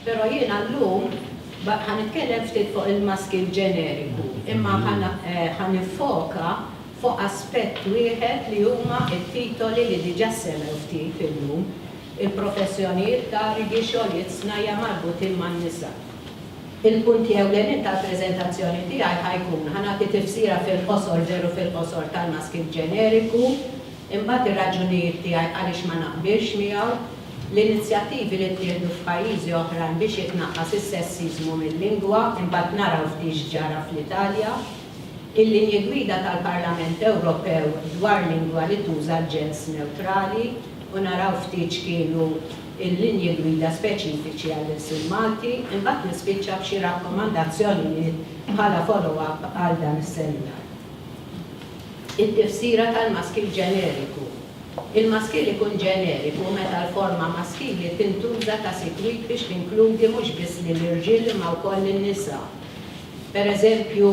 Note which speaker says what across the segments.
Speaker 1: Pero jiena l-lum ħan nitkellem ftit fuq il-maski ġeneriku, imma eh, ħan nifoka fuq aspett wieħed li huma it-titoli li diġà semmew ftit illum il-professjonijiet ta' rigi xogħlijiet snajja marbutin man-nisa. Il-punti ewlenin tal-preżentazzjoni tiegħi ħa jkun, ħa nagħti tifsira fil-qosor, veru fil-qosor, tal-maskit ġeneriku, imbagħad ir-raġunijiet tiegħi għaliex ma naqbilx miegħu, l-inizjattivi li ttieħdu f'pajjiżi oħrajn biex jitnaqqas is-sessiżmu mil-lingwa, imbagħad naraw ftit x'ġara fl-Italja, il-linji gwida tal-Parlament Ewropew dwar lingwa li tuża l-ġens newtrali u naraw ftit x'kienu il-linji gwida speċifiċi għall-ilsien Malti, imbagħad nispiċċa b'xi rakkomandazzjonijiet bħala follow-up għal dan is-seminar. It-tifsira tal-maskil ġeneriku. Il-maskil ikun ġeneriku meta l-forma maskili tintuża ta' sikwit biex tinkludi mhux biss lill-irġiel imma wkoll lin-nisa. Per eżempju,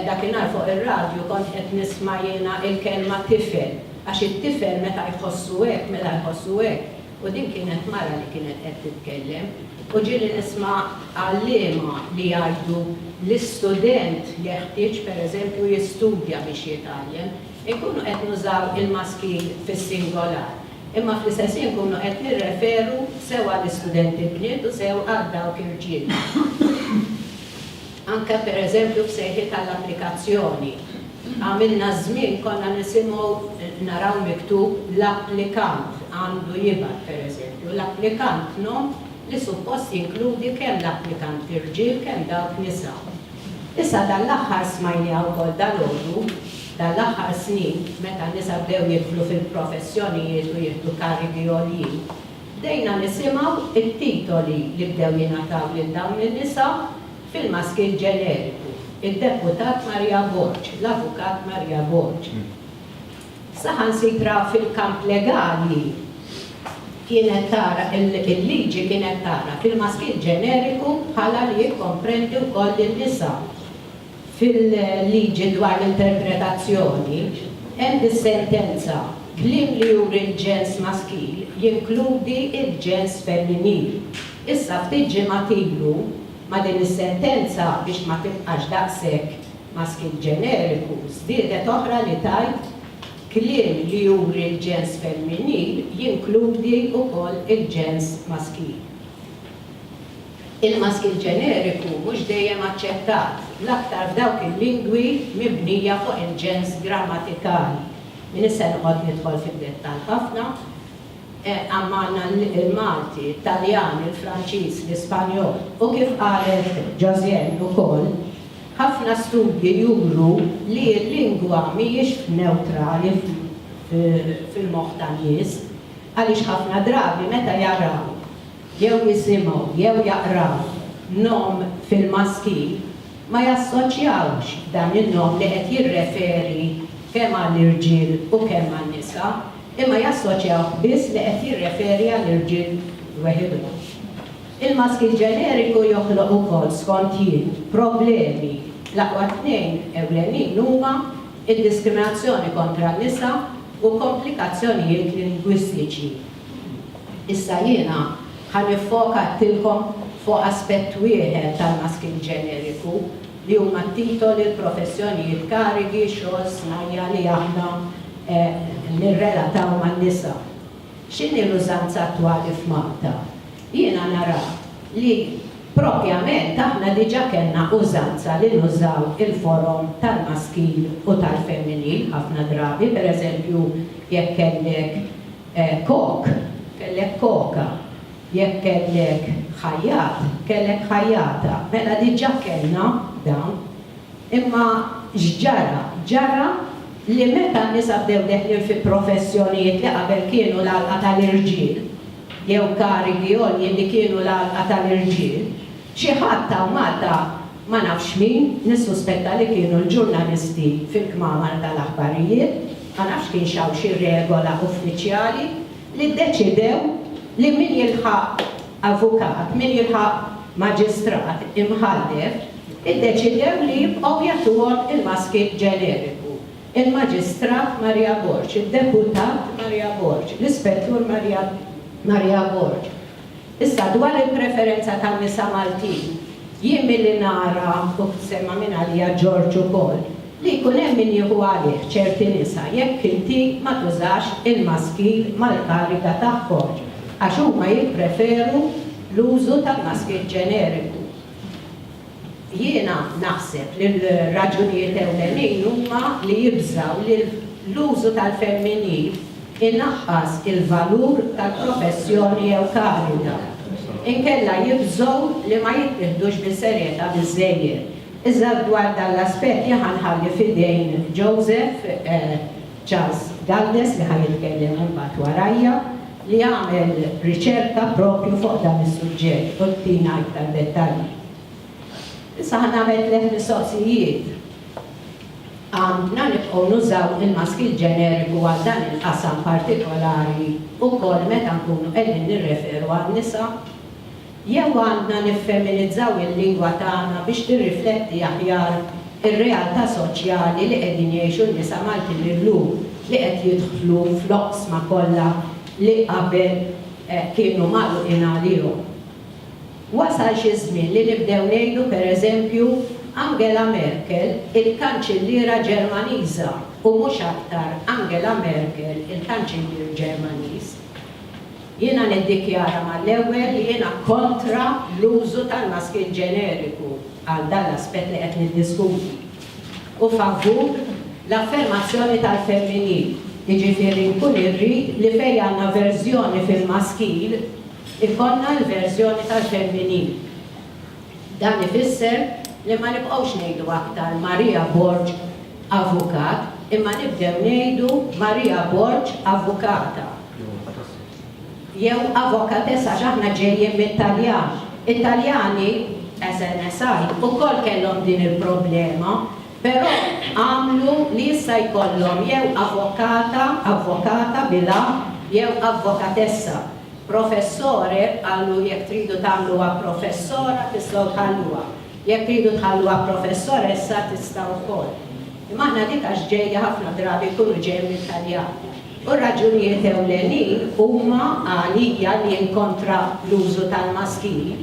Speaker 1: dakinhar fuq ir-radju kont qed nisma' jiena l-kelma tifel, għax it-tifel meta jħossu hekk, mela jħossu hekk, u din kienet mara li kienet qed titkellem. U ġieli nisma' għalliema li jgħidu l-istudent jeħtieġ, per eżempju, jistudja biex jitgħallem, inkunu qed nużaw il-maskil fis-singolar. Imma fl-istess ħin nkunu qed nirreferu sew għall-istudenti bniet u sew għal dawk irġiel. Anke pereżempju f'sejħiet għall-applikazzjoni. Għamilna ż-żmien konna nisimgħu naraw miktub l-applikant għandu jibgħat pereżempju, l-applikant nom li suppost jinkludi kemm l-applikanti rġiel kemm dawk nisa. Issa dan l-aħħar smajniha wkoll dalgħodu. Dan l-aħħar snin, meta n-nisa bdew jidħlu fil-professjonijiet u jieħdu karigi għoljin, bdejna nisimgħu t-titoli li bdew jingħataw lil dawn in-nisa fil-maskil ġeneriku, id-Deputat Maria Borg, l-Avukat Maria Borg. Saħansitra fil-kamp legali kienet tara, il-liġi kienet tagħraf il-maskil ġeneriku bħala li jikkomprendi wkoll lin-nisa. Fil-liġi dwar l-interpretazzjoni hemm is-sentenza, kliem li juri l-ġens maskil jinkludi l-ġens femminil. Issa ftit ġimgħat ilu, ma' din is-sentenza biex ma tibqax daqshekk maskil ġeneriku, żdiedet oħra li tgħid, kliem li juri l-ġens femminil jinkludi wkoll il-ġens maskil. Il-maskil ġeneriku mhux dejjem aċċettat, l-aktar f'dawk il-lingwi mibnija fuq il-ġens grammatikali. M'iniex se noqgħod nidħol fid-dettall ħafna, imma għandna l-Malti, it-Taljan, il-Franċiż, l-Ispanjol, u kif qalet Josiane ukoll, ħafna studji juru li l-lingwa mhijiex newtrali fil-moħħ tan-nies, għaliex ħafna drabi meta jaraw jew jisimgħu jew jaqraw nom fil-maskil ma jassoċjawx dan in-nom li qed jirreferi kemm għal irġiel u kemm għal nisa imma jassoċjawh biss li qed jirreferi għal irġiel weħidhom. Il-maskil ġeneriku joħloq ukoll, skont jien, problemi. L-aqwa tnejn ewlenin huma d-diskriminazzjoni kontra n-nisa u komplikazzjonijiet lingwistiċi. Issa jiena ħa niffoka għattilkom fuq aspett wieħed tal-masking ġeneriku li huma t-titoli, l-professjonijiet, karigi, xogħol, snajja' li aħna nirrelataw man-nisa. X'inhi l-użanza attwali f'Malta? Jiena nara li propjament aħna diġa' kellna użanza li nużaw il-forom tal-maskil u tal-femminil ħafna drabi, pereżempju jekk kellek Kok, kellek koka. Jekk kellek ħajjat, kellek ħajjata. Mela diġà kellna dawn. Imma x'ġara? Ġara li meta n-nisa bdew deħlin fi professjonijiet li qabel kienu l-għalqa tal-irġiel, jew karigi għoljin li kienu l-għalqa tal-irġiel, Xi ħadd ta' Malta, ma nafx min, nissuspetta li kienu l-ġurnalisti fil-kmamar tal-aħbarijiet, ma nafx kienx hawn xi regola uffiċjali, li ddeċidew li min jilħaq avukat, min jilħaq maġistrat imħallef, iddeċidew li jibqgħu jagħtuhom il-maski ġeneriku, il-Maġistrat Maria Borg, id-Deputat Maria Borg, l-Ispettur Maria Borg. Issa dwar il-preferenza tan-nisa Maltin, jien milli nara u semma minn għalija George ukoll, li jkun hemm min jieħu għalih ċerti nisa jekk inti ma tużax il-maskil mal-kariga tagħhom għax huma jippreferu l-użu tal-maskil ġeneriku. Jiena naħseb li l-raġunijiet ewlenin huma li jibżgħu li l-użu tal-femminil inaqqas il-valur tal-professjoni jew kariga. Inkella jibżgħu li ma jittieħdux bis-serjetà biżżejjed. Iżda dwar dan l-aspett jien ħa nħalli f'idejn Joseph. Charles Galdes li ħa jitkellem imbagħad warajja, li għamel riċerka proprju fuq dan is-suġġett u jtina iktar dettalji. Issa ħa nagħmel tliet mistoqsijiet. Għandna nibqgħu nużaw il-maskil ġeneriku għal dan il-qasam partikolari wkoll meta nkunu qegħdin nirreferu għan-nisa? Jew għandna niffeminizzaw il-lingwa tagħna biex tirrifletti aħjar ir-realtà soċjali li qegħdin jgħixu n-nisa Maltin illum li qed jidħlu fl-oqsma kollha li qabel kienu magħluqin għalihom. Wasal xi żmien li nibdew ngħidu per eżempju Angela Merkel il-Kanċilliera Ġermaniża u mhux aktar Angela Merkel il-Kanċillier Ġermaniż. Jiena niddikjara mal-ewwel li jiena kontra l-użu tal-maskil ġeneriku għal dan l-aspett li qed niddiskuti u favur l-affermazzjoni tal-femminil, jiġifieri nkun irrid li fejn għandna verżjoni fil-maskil ikollna l-verżjoni tal-femminil. Dan ifisser li ma nibqgħux ngħidu aktar Maria Borg Avukat imma nibdew ngħidu Maria Borg Avukata jew Avokatessa għax aħna ġejjin mit-Taljan. It-Taljani, as an aside, ukoll kellhom din il-problema però għamlu li issa jkollhom jew Avokata, Avvokata bil-a, jew Avvokatessa. Professore, qallu, jekk tridu tagħmluha professora tistgħu tħalluha. Jekk tridu tħalluha professoressa tistgħu wkoll. Imma aħna dik għax ġejja ħafna drabi jkunu ġejja mit-Taljan. U r-raġunijiet ewlenin huma għalija li nkontra l-użu tal-maskili.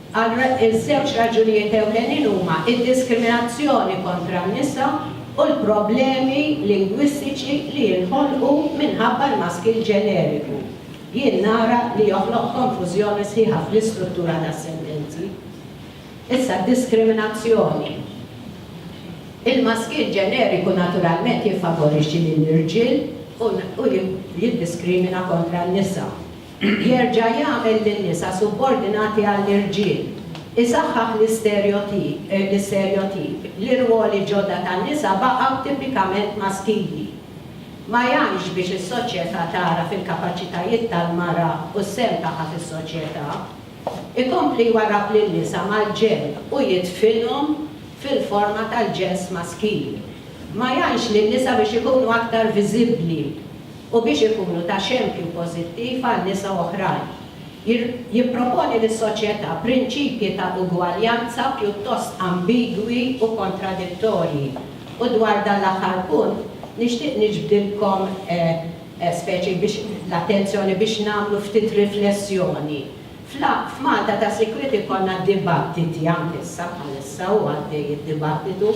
Speaker 1: Għal żewġ raġunijiet ewlenin huma d-diskriminazzjoni kontra n-nisa u l-problemi lingwistiċi li jinħolqu minħabba l-maskil ġeneriku, jien nara li joħloq konfużjoni sħiħa fl-istruttura tas-sentenzi. Issa d-diskriminazzjoni. Il-maskil ġeneriku naturalment jiffavorixxi lill-irġiel u jiddiskrimina kontra n-nisa. Jerġa' jagħmel lin-nisa subordinati għall-irġiel, isaħħaħ l-isterjotip li rwoli ġodda tan-nisa baqgħu tipikament maskili. Ma jgħinx biex is-soċjetà tagħraf il-kapaċitajiet tal-mara u s-sehem tagħha fis-soċjetà. Ikompli jwarrab lin-nisa mal-ġenn u jidfinhom fil-forma tal-ġens maskili. Ma jgħinx lin-nisa biex ikunu aktar viżibbli. u biex ikunu ta' xempju pożittiv għal nisa oħrajn. Jipproponi lis-soċjetà prinċipji ta' ugwaljanza pjuttost ambigwi u kontradittorji, u dwar dan l-aħħar punt nixtieq niġbdilkom speċi biex l-attenzjoni biex nagħmlu ftit riflessjoni. F'Malta ta' sikwit ikollna d-dibattiti, anke issa bħalissa hu għaddej id-dibattitu,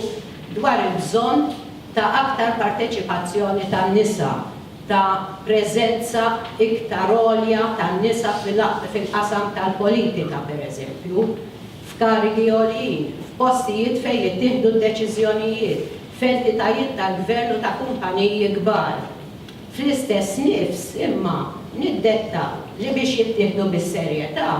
Speaker 1: dwar il-bżonn ta' aktar parteċipazzjoni tan-nisa, ta' preżenza iktar għolja tan-nisa fil-qasam tal-politika, pereżempju, f'karigi għoljin, f'postijiet fejn jittieħdu d-deċiżjonijiet, f'entitajiet tal-gvern u ta' kumpaniji kbar. Fl-istess nifs, imma, niddetta li biex jittieħdu bis-serjetà,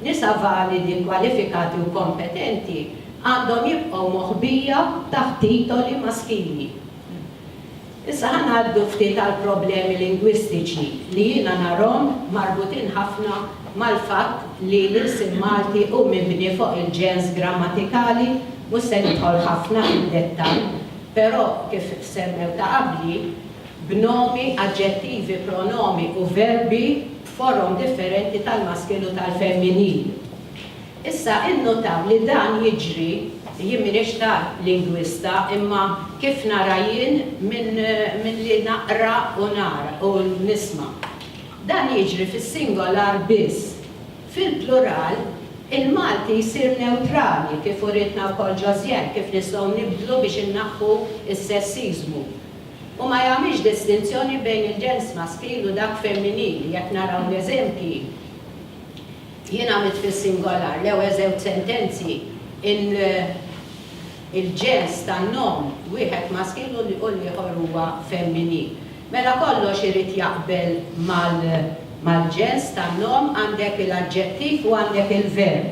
Speaker 1: nisa validi, kwalifikati u kompetenti għandhom jibqgħu moħbija taħt titoli maskili. Issa ħa ngħaddu ftit għall-problemi lingwistiċi li jiena narhom marbutin ħafna mal-fatt li l-ilsien Malti hu mibni fuq il-ġens grammatikali, mhux se nidħol ħafna fid-dettall, però kif semmew ta' qabli, b'nomi, aġġettivi, pronomi u verbi b'forom differenti tal-maskil u tal-femminil. Issa, innutaw li dan jiġri, jien m'iniex ta' lingwista imma kif nara jien minn li naqra u nara u nisma'. Dan jiġri fis-singolar biss. Fil-plural, il-Malti jsir newtrali kif urietna wkoll Josiane kif nistgħu nibdlu biex innaħħu s-sessiżmu. u ma jagħmilx distinzjoni bejn il-ġens maskil u dak femminili, jekk naraw l-eżempji jien għamilt fis-singolar l-ewe' żewġ sentenzi, il-ġens tan-nom wieħed maskil u l-ieħor huwa femminil. Mela kollox irid jaqbel mal-ġens tan-nom, għandek il-aġġettiv u għandek il-verb.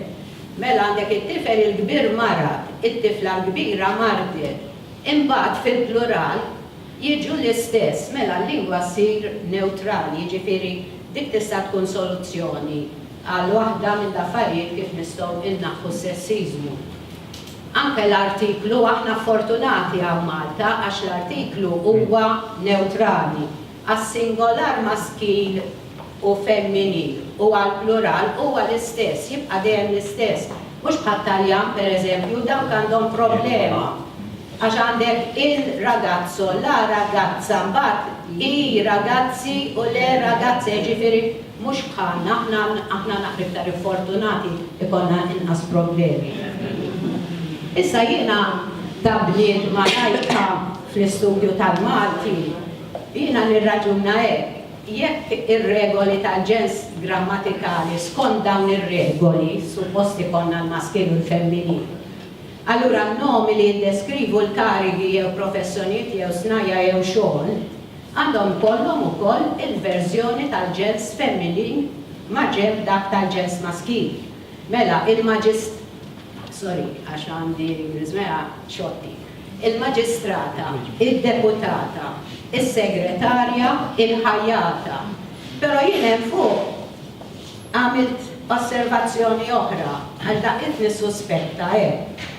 Speaker 1: Mela għandek it-tifel il-kbir marad, it-tifla l-kbira mardiet. Imbagħad fil-plural jiġu l-istess, mela l-lingwa ssir newtrali, jiġifieri dik tista' tkun soluzzjoni għal waħda mill-affarijiet kif nistgħu innaħħu s-sessiżmu. Anke l-artiklu, aħna fortunati hawn Malta għax l-artiklu huwa newtrali. għas-singolar maskil u femminil u għall-plural huwa l-istess, jibqa' dejjem l-istess. Mhux bħat-Taljan, pereżempju, dawk għandhom problema għax għandek il ragazzo, la ragazza, mbagħad i ragazzi u le ragazze, jiġifieri mhux bħalna, aħna aħna naqra iktar infortunati, ikollna inqas problemi. Issa jiena ta' bniedma lajka fl-istudju tal-Malti, Jiena nirraġuna hekk, jekk ir-regoli tal-ġens grammatikali skont dawn ir-regoli suppost ikollna l-maskil u l-femminil, allura n-nomi li jiddeskrivu l-karigi jew professjonijiet jew snajja' jew xogħol għandhom ikollhom ukoll il-verżjoni tal-ġens femminil maġenb dak tal-ġens maskil. Mela, il-maġist. Sorry, għax għandi, Ms. Mea, xotti. il-Maġistrata, id-Deputata, is-Segretarja, il-Ħajjata. Però jien hemm fuq għamilt osservazzjoni oħra, għax dak qed nissuspetta hekk.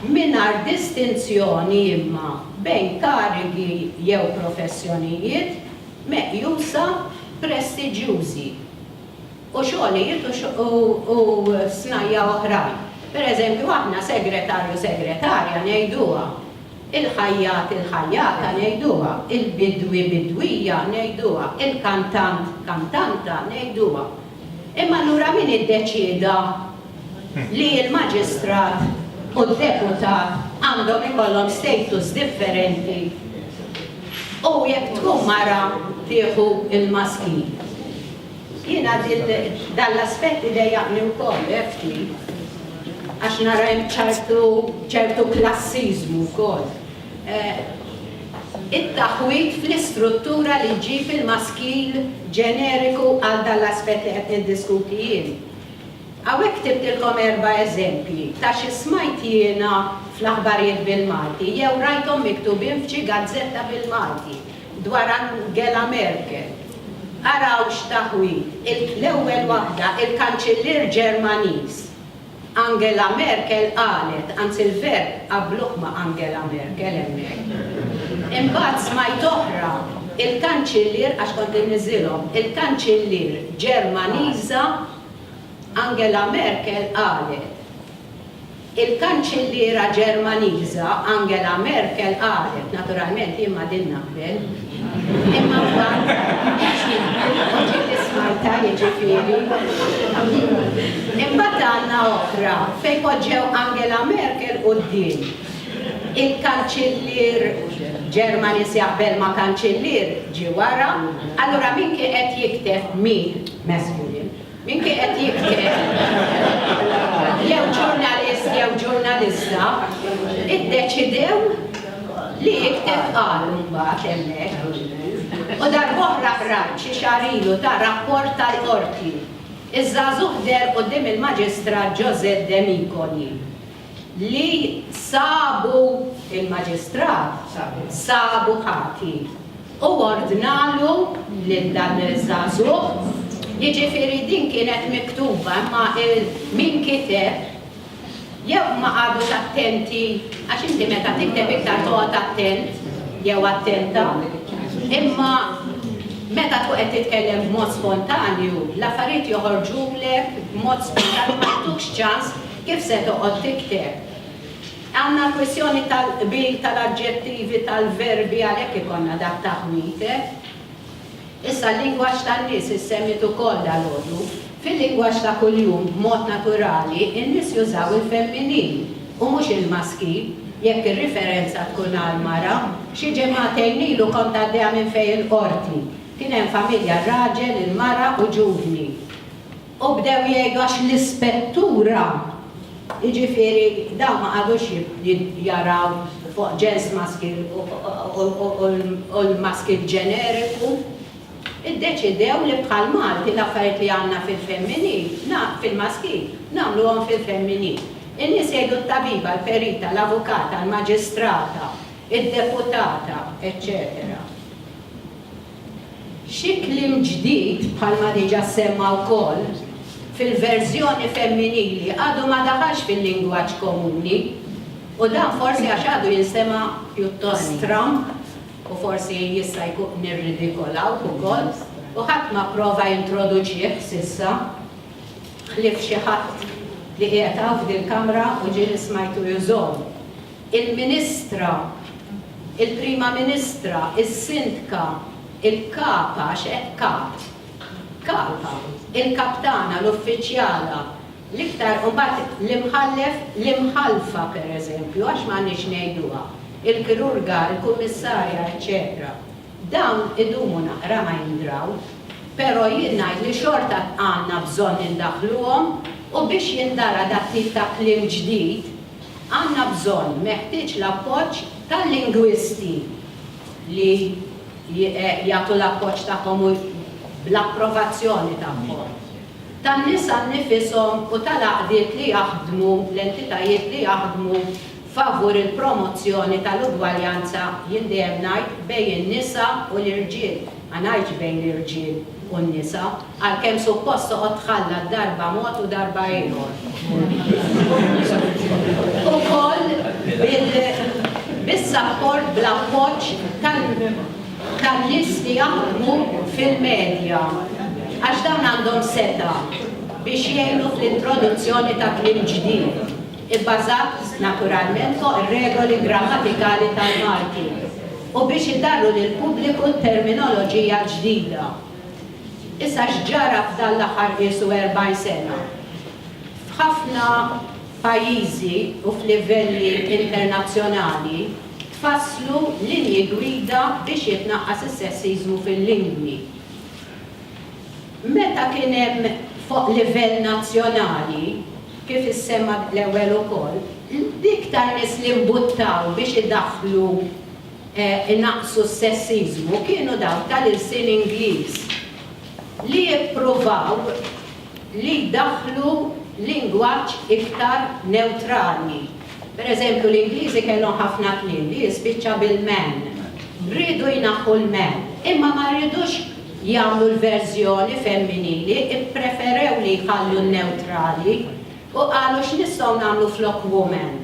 Speaker 1: Mingħajr distinzjoni imma bejn karigi jew professjonijiet meqjusa prestiġjużi. u xogħlijiet u snajja' oħrajn. Per eżempju, aħna segretarju, segretarja ngħiduha, il-ħajjat, il-ħajjata ngħiduha, il-bidwi, bidwija ngħiduha, il-kantant, kantanta ngħiduha. Imma allura min iddeċieda li l-maġistrat u d-deputat għandhom ikollhom status differenti u jekk tkun mara tieħu l-maskil? Jiena dan l-aspett idejjaqni wkoll ftit għax nara hemm ċertu klassiżmu wkoll. It-taħwid fl-istruttura li ġġib il-maskil ġeneriku għal dan l-aspett li qed niddiskuti jien. Hawnhekk ktibtilkom erba' eżempji ta' xi smajt jiena fl-aħbarijiet bil-Malti jew rajthom miktubin f'xi gazzetta bil-Malti. dwar Angela Merkel, araw x'taħwid, l-ewwel waħda, il-Kanċillier Ġermaniż. Angela Merkel qalet, anzi l-verb qabluh ma' Angela Merkel hemmhekk. Imbagħad smajt oħra, il-Kanċillier, għax kont inniżżilhom, il-Kanċillier Ġermaniża Angela Merkel qalet. Il-Kanċilliera Ġermaniża Angela Merkel qalet, naturalment jien ma' din naqbel, imma mbagħad qed jidħlu l-voċi li smajtha jiġifieri, imbagħad għandna oħra fejn poġġew Angela Merkel quddiem il-Kanċillier Ġermaniż jaqbel ma' Kanċillier ġie wara, allura min kien qed jikteb min, messju jien, Min kien qed jikteb? Jew ġurnalist jew ġurnalista iddeċidew li jikteb qal mbagħad hemmhekk. U darb'oħra qrajt xi xahar ilu ta' rapport tal-Qorti. Iż-żagħżugħ deher quddiem il-Maġistrat José Demicoli. li sabu, il-Maġistrat sabu ħati u ordnalu lil dan iż-żagħżugħ, jiġifieri din kienet miktuba imma min kiteb jew ma qagħdux attenti għax inti meta tikteb iktar toqgħod attent jew attenta imma meta tkun qed titkellem b'mod spontanju l-affarijiet joħorġulek b'mod spontanju ma jagħtukx ċans Kif se toqgħod tikteb? Hawn kwistjoni tal-qbil tal-aġġettivi, tal-verbi, għalhekk ikollna dak ta' ħwietet. Issa l-lingwaġġ tan-nies issemmit ukoll dalgħodu. Fil-lingwaġġ ta' kuljum, b'mod naturali, in-nies jużaw il-femminil u mhux il-maskil, jekk ir-riferenza tkun għall-mara. Xi ġimagħtejn ilu kont għaddejja minn fejn il-qorti. Kien hemm familja, raġel, il-mara u ġuvni. U bdew jgħidu għax l-ispettura, jiġifieri dawn ma qagħdux jaraw fuq ġens maskil u l-maskil ġeneriku, iddeċidew li bħal Malti l-affarijiet li għandna fil-femminil, fil-maskil, nagħmluhom fil-femminil. In-nies jgħidu t-tabiba, l-perita, l-avukata, l-maġistrata, id-deputata, eċċetera. Xi kliem ġdid, bħalma diġà ssemma wkoll, fil-verżjoni femminili għadu ma daħalx fil-lingwaġġ komuni u dan forsi għax għadu jinstema' pjuttost stramb u forsi jista' jkun nirridikolaw ukoll u ħadd ma pprova jintroduċih s'issa ħlief xi ħadd li qiegħed hawn f'dil-Kamra u ġieli smajtu jużhom. il-Ministra, il-Prima Ministra, is-Sindka, il-Kap, għax hekk Kap, Kap, il-Kaptana, l-Uffiċjala, l-iktar, u mbagħad l-Imħallef, l-Imħallfa, pereżempju, għax m'għandniex ngħiduha, il-Kirurga, il-Kummissarja, eċċetera. Dawn idumu naqra ma jindraw, però jien ngħid li xorta għandna bżonn indaħħluhom u biex jindara dat-tip ta' kliem ġdid, Għandna bżonn, meħtieġ l-appoġġ tal-lingwisti li jagħtu l-appoġġ tagħhom u bl-approvazzjoni tagħhom, tan-nisa nnifishom u tal-għaqdiet li jaħdmu, l-entitajiet li jaħdmu favur il-promozzjoni tal-ugwaljanza, jien dejjem ngħid, bejn in-nisa u l-irġiel, ma ngħidx bejn l-irġiel u n-nisa. Għalkemm suppost toqgħod tħallat darba mod u darba ieħor. Ukoll bis-sapport bl-appoġġ tan-nies li jaħdmu fil-medja għax dawn għandhom setgħa biex jgħinu fl-introduzzjoni ta' kliem ġdid ibbażat naturalment fuq ir-regoli grammatikali tal-Malti u biex idarru lill-pubbliku t-terminoloġija l-ġdida. Issa x'ġara f'dan l-aħħar qiesu 40 sena? F'ħafna pajjiżi u f'livelli internazzjonali tfasslu linji gwida biex jitnaqqas is-sessiżmu fil-lingwi. Meta kien hemm fuq livell nazzjonali, kif issemma l-ewwel ukoll, l-iktar nies li mbuttaw biex idaħħlu inaqqsu s-sessiżmu kienu dawk tal-ilsien Ingliż li ippruvaw li jdaħħlu lingwaġġ iktar newtrali. Per eżempju, l-Ingliżi kellhom ħafna kliem li jispiċċa bil-man. Riedu jnaħħu l-man, imma ma riedux jagħmlu l-verżjoni femminili, ippreferew li jħallu n-newtrali. U qalu x'nistgħu nagħmlu flok woman?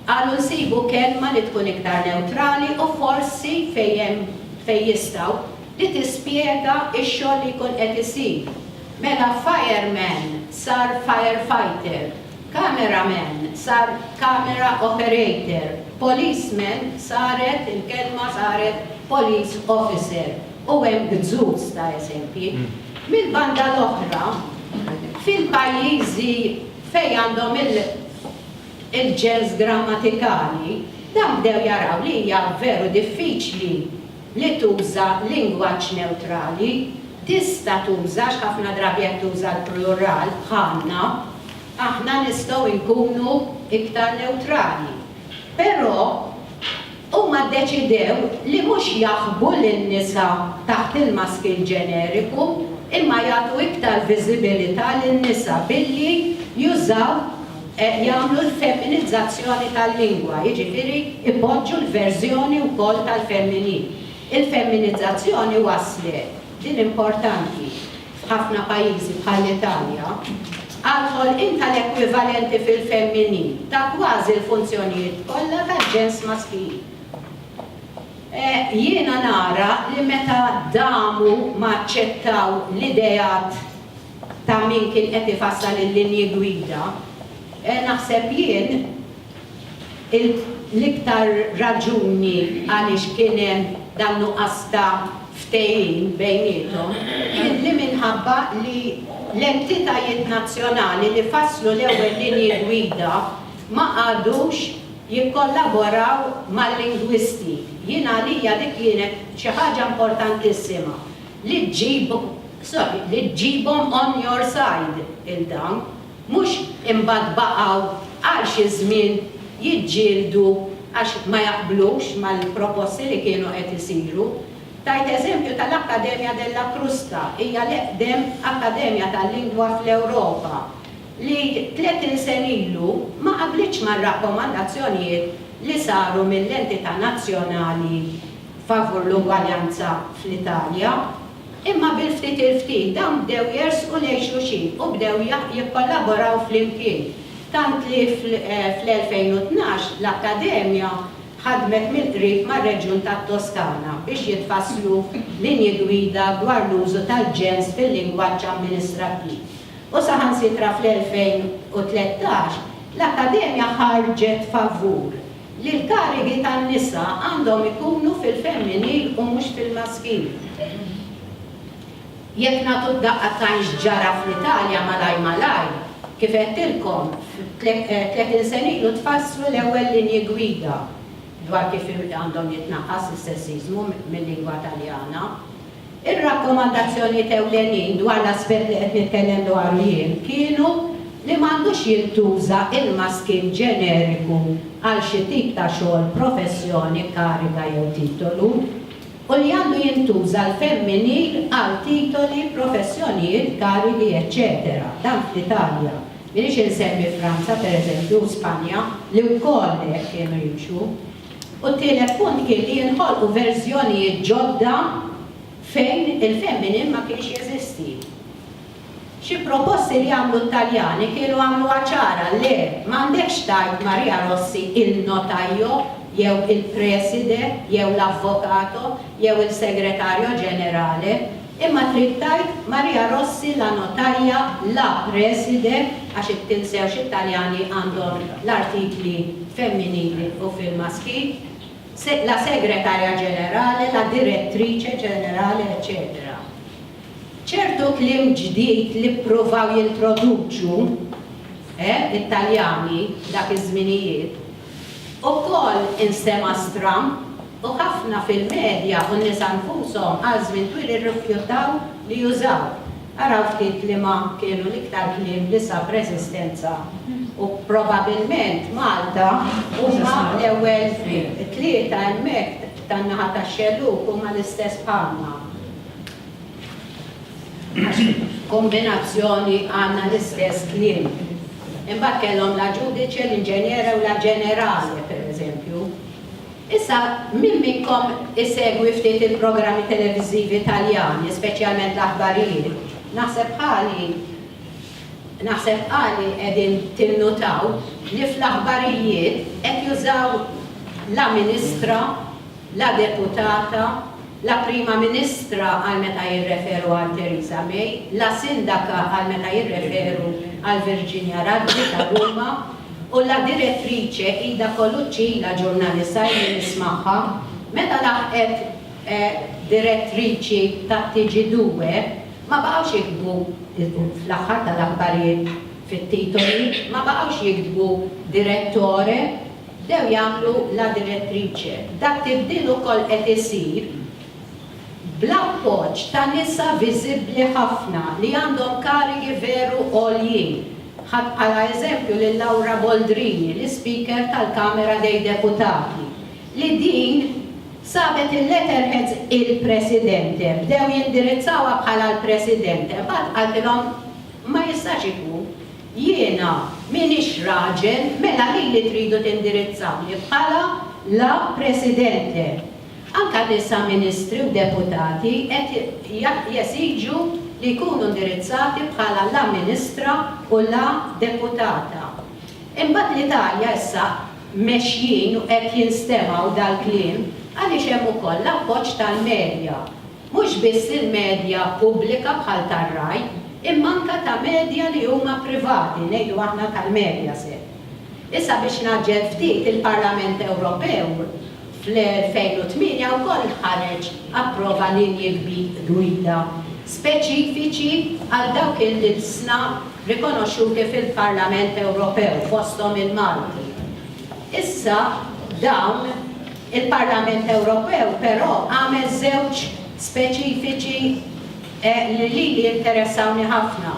Speaker 1: Qalu nsibu kelma li tkun iktar newtrali u forsi fejn hemm fejn jistgħu li tispjega x-xogħol li jkun qed isir. Mela fire man sar fire fighter, camera man sar camera operator, police man saret il-kelma saret police officer. u hemm gzuz ta' eżempji, mill-banda l-oħra, fil-pajjiżi fejn għandhom il-ġens grammatikali, dawn bdew jaraw li hija veru diffiċli li tuża lingwaġġ newtrali, tista' tuża għax ħafna drabi qed tuża l-plural bħalna, aħna nistgħu nkunu iktar newtrali. Però, huma ddeċidew li mhux jaħbu lin-nisa taħt il-maskil ġeneriku imma jagħtu iktar viżibilità lin-nisa billi jużaw, jagħmlu l-feminizzazzjoni tal-lingwa, jiġifieri jpoġġu l-verżjoni wkoll tal-femminil. Il-feminizzazzjoni wasslet, din importanti, f'ħafna pajjiżi bħall-Italja, għal ħolqien tal-ekwivalenti fil-femminil ta' kważi l-funzjonijiet kollha tal-ġens maskil. Jiena nara li meta damu ma aċċettaw l-ideat ta' min kien qed ifassal il-linji gwida, naħseb jien, L-iktar raġuni għaliex kien hemm dan nuqqas ta' ftehim bejniethom kien li minħabba li l-entitajiet nazzjonali li fasslu l-ewwel linji gwida ma qagħdux jikkollaboraw mal-lingwisti. Jien għalija dik kienet xi ħaġa importantissima li ġġib, sorry, li ġġibhom on your side 'il dawn. Mhux imbagħad baqgħu għal xi żmien jiġġieldu għax ma jaqblux mal-proposti li kienu qed isiru. Tajt eżempju tal-Accademia della Crusca, hija l-eqdem akkademja tal-lingwa fl-Ewropa, li tletin sen ilu ma qablitx mar-rakkomandazzjonijiet li saru mill-entità nazzjonali favur l-ugwaljanza fl-Italja. Imma bil-ftit il-ftit dawn bdew jersqu lejn xulxin u bdew jikkollaboraw flimkien, tant li fl-2012 l-Akkademja ħadmet mill-qrib mar-reġjun tat-Toskana biex jitfasslu linji gwida dwar l-użu tal-ġens fil-lingwaġġ amministrattiv u saħansitra fl-2013 l-Akkademja ħarġet favur li l-karigi tan-nisa għandhom ikunu fil-femminil u mhux fil-maskil. Jekk nagħtu daqqa tajn x'ġara fl-Italja malajr malajr, kif għedtilkom, tletin sena ilu tfasslu l-ewwel linji gwida dwar kif għandhom jitnaqqas is-sessiżmu mil-lingwa Taljana. Ir-rakkomandazzjonijiet ewlenin dwar l-aspett li qed nitkellem dwaru jien kienu li m'għandux jintuża il-maskin ġeneriku għal xi tip ta' xogħol, professjoni, kariga jew titolu, u li għandu jintuża l-femminil għal titoli, professjonijiet, karigi, eċċetera Dan fl-Italja. M'iniex insemmi Franza, pereżempju, u Spanja, li wkoll hekk kienu jimxu. U t-tielet punt kien li jinħolqu verżjonijiet ġodda fejn il-femminil ma kienx jeżisti. Xi proposti li għamlu t-Taljani kienu għamluha ċara, le, m'għandekx tgħid Maria Rossi il-notaio jew il-preside jew l-avvocato jew il-segretarjo ġenerale, Imma trid tgħid Maria Rossi la notaia, la preside, għax int tinsewx it-Taljani għandhom l-artikli femminili u fil-maskil, se, la segretaria generale, la direttrice generale eċċetera. Ċertu kliem ġdid li ppruvaw jintroduċu, eh, it-Taljani dak iż-żminijiet, Ukoll instema' stram u ħafna fil-medja u n-nisa nfushom għal żmien twil irrifjutaw li jużaw. Araw ftit liema kienu l-iktar kliem li sab reżistenza u probabilment Malta huma l-ewwel tlieta hemmhekk tan-naħa tax-xellug huma l-istess bħalna. Għax f'kombinazzjoni għandna l-istess kliem. Imbagħad kellhom la ġudice, l-inġenjera u la ġenerale, pereżempju. Issa, min minnkom isegwi ftit il-programmi televiżivi Taljani, speċjalment l-aħbarijiet, naħseb ħali naħseb ħali qegħdin tinnutaw li fl-aħbarijiet qed jużaw la ministra la deputata, la Prima Ministra għal meta jirreferu għal Theresa May, la Sindaka għal meta jirreferu għal Virginia Raggi ta' Ruma u la Direttrice Ida Colucci, la ġurnalisa illi nismagħha, meta laħqet Direttriċi tat-TG2, ma baqgħux jiktbu, fl-aħħar tal-aħbarijiet fit-titoli, ma baqgħux jiktbu Direttore. bdew jagħmlu La Direttrice. Dak tibdil ukoll qed isir bl-appoġġ ta' nisa viżibbli ħafna li għandhom karigi veru għoljin. Ħadt bħala eżempju lil Laura Boldrini, l-Ispeaker tal-Kamera dei Deputati, li din sabet il-letterheads il-Presidente, bdew jindirizzawha bħala l-Presidente, imbagħad qaltilhom ma jistax ikun. Jiena m'iniex raġel, mela lili tridu tindirizzawni bħala La Presidente. Anke nisa ministri u deputati qed jesiġu li jkunu ndirizzati bħala La Ministra u La Deputata. Imbagħad l-Italja issa mexjin u qed jinstemgħu dal-kliem għaliex hemm ukoll l-appoġġ tal-medja. mhux biss lill-medja pubblika bħal tar-Rai imma anke ta' medja li huma privati, ngħidu aħna tal-Mediaset. Issa biex ngħaġġel ftit, il-Parlament Ewropew fl-2008 wkoll ħareġ approva linji gwida speċifiċi għal dawk il-ilsna rikonoxxuti fil-Parlament Ewropew fosthom il-Malti. Issa dawn. Il-Parlament Ewropew però għamel żewġ speċifiċi li lili jinteressawni ħafna.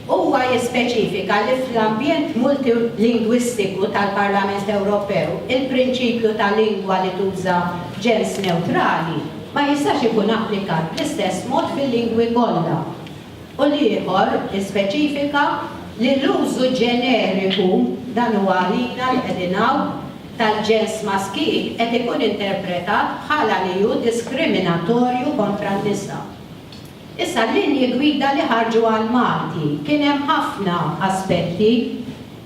Speaker 1: Huwa jispeċifika li fl-ambjent multilingwistiku tal-Parlament Ewropew il-prinċipju ta' lingwa li tuża ġens newtrali ma jistax ikun applikat bl-istess mod fil-lingwi kollha u l-ieħor ispeċifika li l-użu ġeneriku, dan huwa għalina li qegħdin hawn, tal-ġens maskil qed ikun interpretat bħala li hu diskriminatorju kontra n-nisa. Issa l-linji gwida li ħarġu għall-Malti kien hemm ħafna aspetti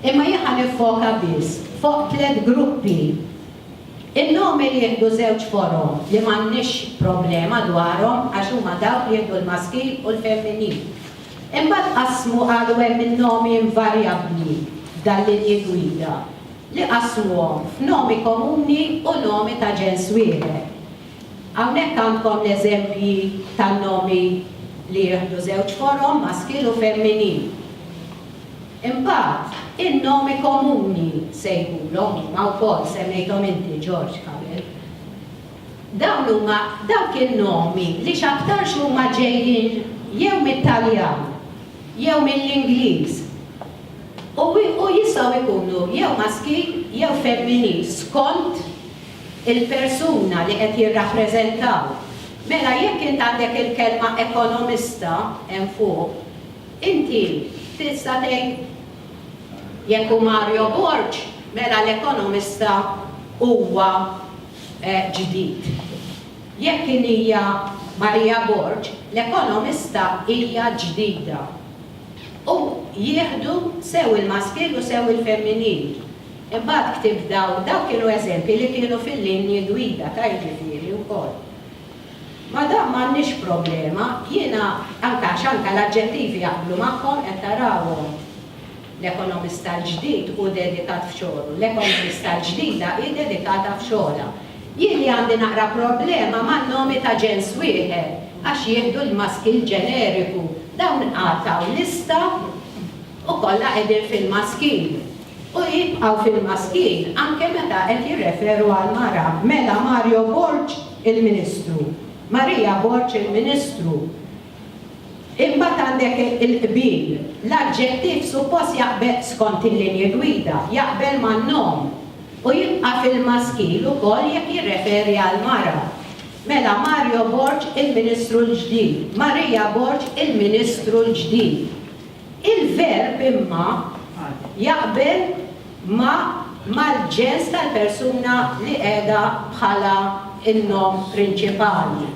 Speaker 1: imma jien ħa niffoka biss foq tliet gruppi. In-nomi li jieħdu żewġ forom li m'għandniex problema dwarhom għax huma dawk li jieħdu l-maskil u l-femminil. Imbagħad qasmu qalu hemm in-nomi invarjabbli f'dal-linji gwida. li qasmuhom f'nomi komuni u nomi ta' ġens wieħed. Hawnhekk għandkom l-eżempji tan-nomi li jieħdu żewġ forom, maskil u femminil. Imbagħad, in-nomi komuni se jkunu huma wkoll, semmejthom inti, George, qabel. Dawn huma dawk in-nomi li x'aktarx huma ġejjin jew mit-Taljan jew mill-Ingliż u jistgħu jkunu jew maskil jew femminil skont il-persuna li qed jirrappreżentaw. Mela jekk int għandek il-kelma ekonomista hemm fuq, inti tista' tgħid jekk hu Mario Borg mela l-ekonomista huwa ġdid. Jekk in hija Maria Borg, l-ekonomista hija ġdida. u jieħdu sew il-maskil u sew il-femminil. Imbagħad ktibt dawn, dawn kienu eżempji li kienu fil-linji gwida ta' jiġifieri wkoll. Ma' dan m'għandniex problema, jiena, anke għax anke l-aġġettivi jaqblu magħhom, qed tarawhom, l-ekonomista l-ġdid hu dedikat f'xogħlu, l-ekonomista l-ġdida hi dedikata f'xogħolha. Jien li għandi naqra problema man-nomi ta' ġens wieħed għax jieħdu l-maskil ġeneriku, dawn qatgħu lista u kollha qegħdin fil-maskil u jibqgħu fil-maskil anke meta qed jirreferu għal mara, mela Mario Borg il-Ministru, Maria Borg il-Ministru. Imbagħad għandek il-qbil. L-aġġettiv suppost jaqbel, skont il-linji gwida, jaqbel man-nom u jibqa' fil-maskil ukoll jekk jirreferi għall-mara. Mela Mario Borg il-Ministru l-ġdid, Maria Borg il-Ministru l-ġdid. Il-verb imma jaqbel ma' mal-ġens tal-persuna li qiegħda bħala n-nom prinċipali.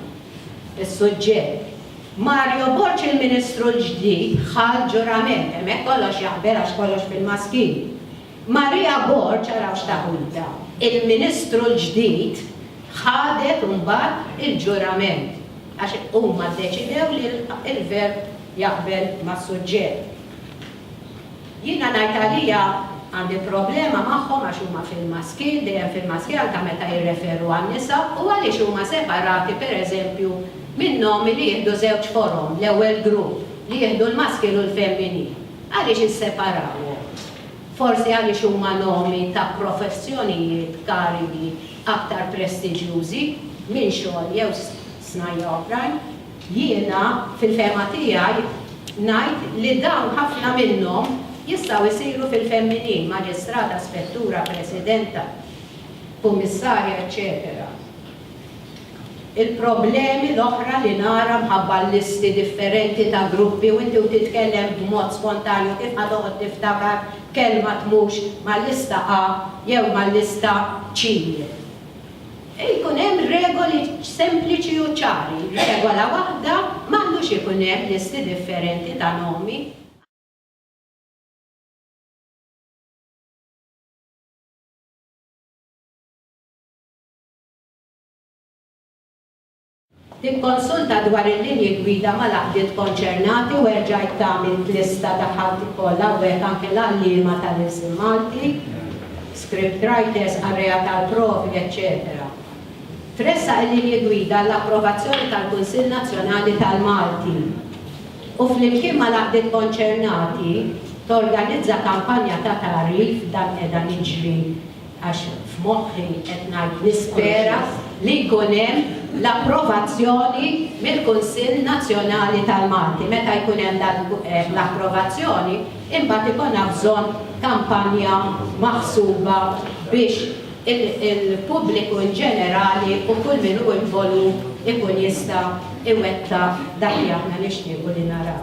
Speaker 1: Is-suġġett, Mario Borg il-Ministru l-ġdid ħa l-ġurament, hemmhekk kollox jaqbel għax kollox bil-maskil. Maria Borg, araw x'taħwida, il-Ministru l-ġdid ħadet imbagħad il-ġurament għax huma ddeċidew li l-verb jaqbel mas-suġġett. Jiena ngħid għalija għandi problema magħhom għax huma fil-maskil, dejjem fil-maskil anke meta jirreferu għan-nisa u għaliex huma separati per eżempju min-nomi li jieħdu żewġ forom, l-ewwel grupp li jieħdu l-maskil u l-femminil. Għaliex isseparawhom? Forsi għaliex huma nomi ta' professjonijiet, karigi, aktar prestiġjużi minn xogħol jew snajja oħrajn? Jiena, fil-fehma tiegħi, ngħid li dawn ħafna minnhom jistgħu jsiru fil-femminil, maġistrata, spettura, presidenta, kummissarja, eċċetera Il-problemi l-oħra li nara mħabba l-listi differenti ta' gruppi u inti u titkellem b'mod spontanju kif ħa toqgħod tiftakar kelma tmux mal-lista A jew mal-lista C. Jkun hemm regoli sempliċi u ċari. Regola waħda, m'għandux ikun hemm listi differenti ta' nomi. Tikkonsulta dwar il-linji gwida mal-għaqdiet konċernati u erġa' ittgħamil t-lista ta' ħalti kollha u hekk anke l-għalliema tal-ilsien Malti, scriptwriters, qarrejja tal-provi, eċċetera Tressaq il-linji gwida għall-approvazzjoni tal-Kunsill Nazzjonali tal-Malti u flimkien mal-għaqdiet konċernati torganizza kampanja ta' tagħrif dan qiegħda niġri għax f'moħħi qed ngħid nispera li jkun hemm l-approvazzjoni mill-Kunsill Nazzjonali tal-Malti. Meta jkun hemm dan l-approvazzjoni, imbagħad ikollna bżonn kampanja maħsuba biex il-pubbliku inġenerali u kull min hu involut ikun jista' iwettaq dak li aħna nixtiequ li naraw.